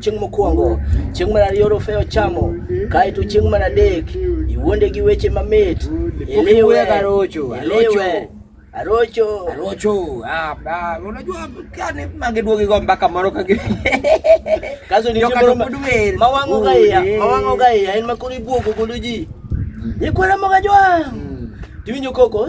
Chieng' mokwongo, chieng' mar ariyo rofeyo chamo, kaeto chieng' mar adek iwuonde gi weche mamit. Iliwe, iliwe. Arocho. Arocho. Ah, ah, unajua kani mange duogi go mpaka moro ka gi. Kaso ni chimbo mawango ga ya, mawango ga ya en makuri buogo godo ji. Ni kwara maga jwa. Tiwinjo koko.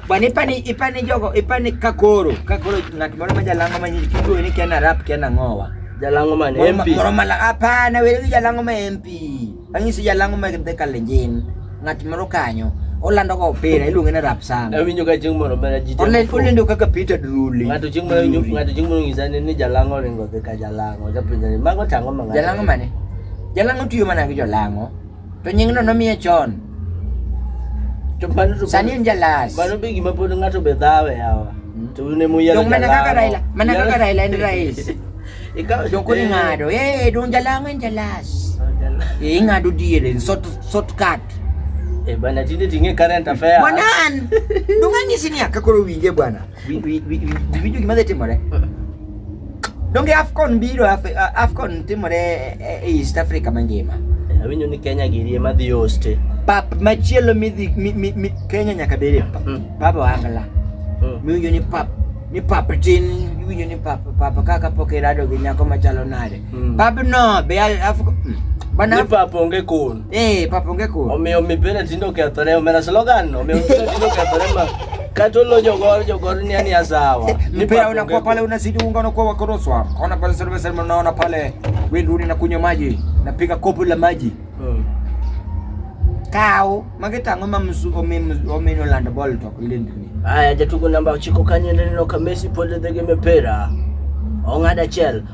Bwana ipani ipani jogo ipani kakoro kakoro ng'at moro ma jalango ma nyinyi kiduwe ni kena rap kena ng'owa. Jalango man MP. Moro mala hapana wewe jalango ma MP. Anyisi jalango ma kende kalenjin. Ng'at moro kanyo olando go opira iluonge ni rap sana. Awinjo ka chieng' moro mera jite. Online olendo kaka Peter Druli. Ng'ato chieng' moro winjo ng'ato chieng' moro ng'isa ni jalango ringo dhi ka jalango. Japenjani mago tango ma ng'ato. Jalango mane? Jalango tiyo mana gi jolango. To nyingno nomiye chon. To mano to Sani en jalas. mano be gima pod ng'ato be dhawe yawa. Mm. To un emu yiero Dong mana kaka jalamo. Raila, mana Yiero- kaka Raila en rais. Ikawo Dong koro eh, ing'ado, eh, dong jalango en jalas. oh, jala- Eh, ing'ado diere, short, short cut. Eh, bana tinde ting'e current affair. Bwana an, dong anyisi ni aka koro winje bwana. Wi- wi- wi- wi- Winjo gima dhi timore. Donge AFCON biro, Af- AFCON timore e- e- e East Africa mangima. Awinjo ni Kenya giri ema dhi hoste. Pap machielo midhi mi- mi- mi- Kenya nyaka bede pa- Mm. pap Wangla. Mm. Miwinjo ni pap ni pap tin, iwinjo ni pap pap kaka pok irado gi nyako machalo nade. Mm. Pap no be al- AFCON. mm. Bana Ni pap onge kun. Eh, papa onge koro. Omiyo mipira tindo kethore, omera slogan, omiyo mipira tindo kethore ma kata olo jogor jogor ni ani asawa. Eh, mipira unakuwa pale unazidi unga unakuwa wakoroswa. Ona pale sasa sasa unaona pale wewe rudi na kunywa maji, napiga kopo la maji. Hmm. Kao, mageta ngoma msu ome ome no land ball to ile ndini. Aya, jatugo namba 9 kanye ndino kamesi pole dhege mipira. Ong'ada chel.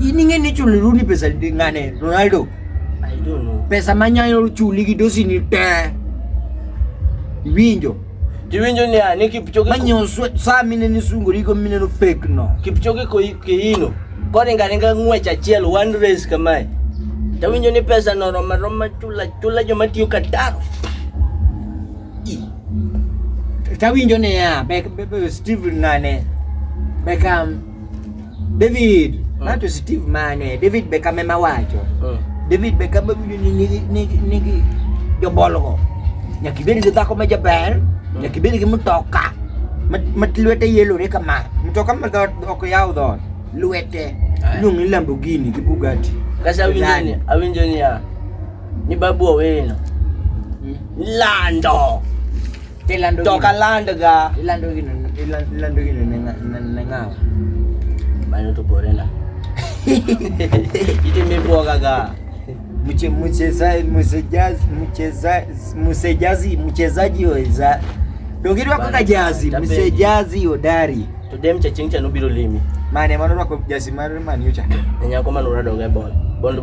Ining'e ni chuli Rooney pesa ng'ane Ronaldo. I don't know. Pesa manyayo chuli gi dosi ni te. Winjo. Tiwinjo ni ani Kipchoge Manyo saa mine ni sungo riko mine no fake no. Kipchoge ko kiino. Koringa ringa ng'wech achiel one race kamae. Tawinjo ni pesa no roma roma chula chula joma tiyo Qatar. Tawinjo ni ya, Steven ng'ane. Beckham. David, uh. not to Steve Mane, David Beckham ema wacho. Uh. David Beckham winjo ni nigi nigi nigi jobolgo. Nyaka ibed gi dhako ma jaber, uh. nyaka ibed gi mtoka ma lwete yelore kama. Mtoka ma dhoot ok yaw dhoot, lwete iluongo ni Lamborghini gi Bugatti. Kasa awinjo ni awinjo ni ya. Ni babu owino. Hmm. Lando. Ilando to ka land ga ilando gino ilando gino ne ne ngawa bano to bore na ite me boga ga mche mcheza mchezaji mchezaji mchezaji mchezaji weza dogirwa kaka jazi mchezaji hodari to dem cha chingcha no biro limi mane mano rwako jazi mar manyo cha nyako mano radoga bol bol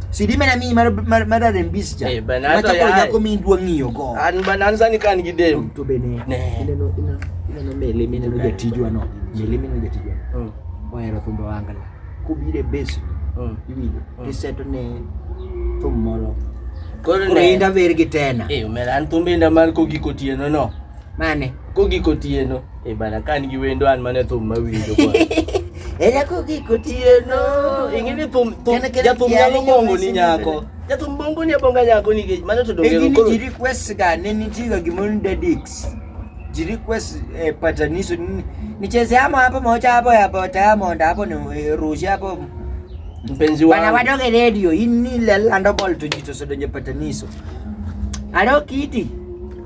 Sidi mena mi mar mar mar rembis cha. Eh, bana, Ma hata cha ko yaye. yako mi ndwa ng'iyo go. An bana an sani kan gi dem. To bene. Ne. Ineno ina ineno mele mene no jatijwa no. Mele mene no jatijwa. Mm, Ohero thumbe wangala. Kubire base mm. iwinjo. Mm. Iseto ne thum moro. Koro Koro ne. inda ver gi tena. Eh, mera an thumbe nda mar kogiko tieno no. Mane? Kogik otieno. E bana ka an gi wendo an mane thum mawinjo kwa. Era kogik otieno. Ing'e ni thum thum Kene- kene jathum kiani nyalo bongo ni nyawesi nyako. nende. Jathum bongo ni abonga nyako nikech mano to dongero Lakini koro. ji request ga ne nitiga gimoro ni dadix ji request eh, pataniso ni- nicheze amo hapo moja hapo ya bota ya monda hapo ni eh, rushe hapo Mpenzi bana wangu. wadoge radio ini lelando bol to jito sodonje pataniso alo kiti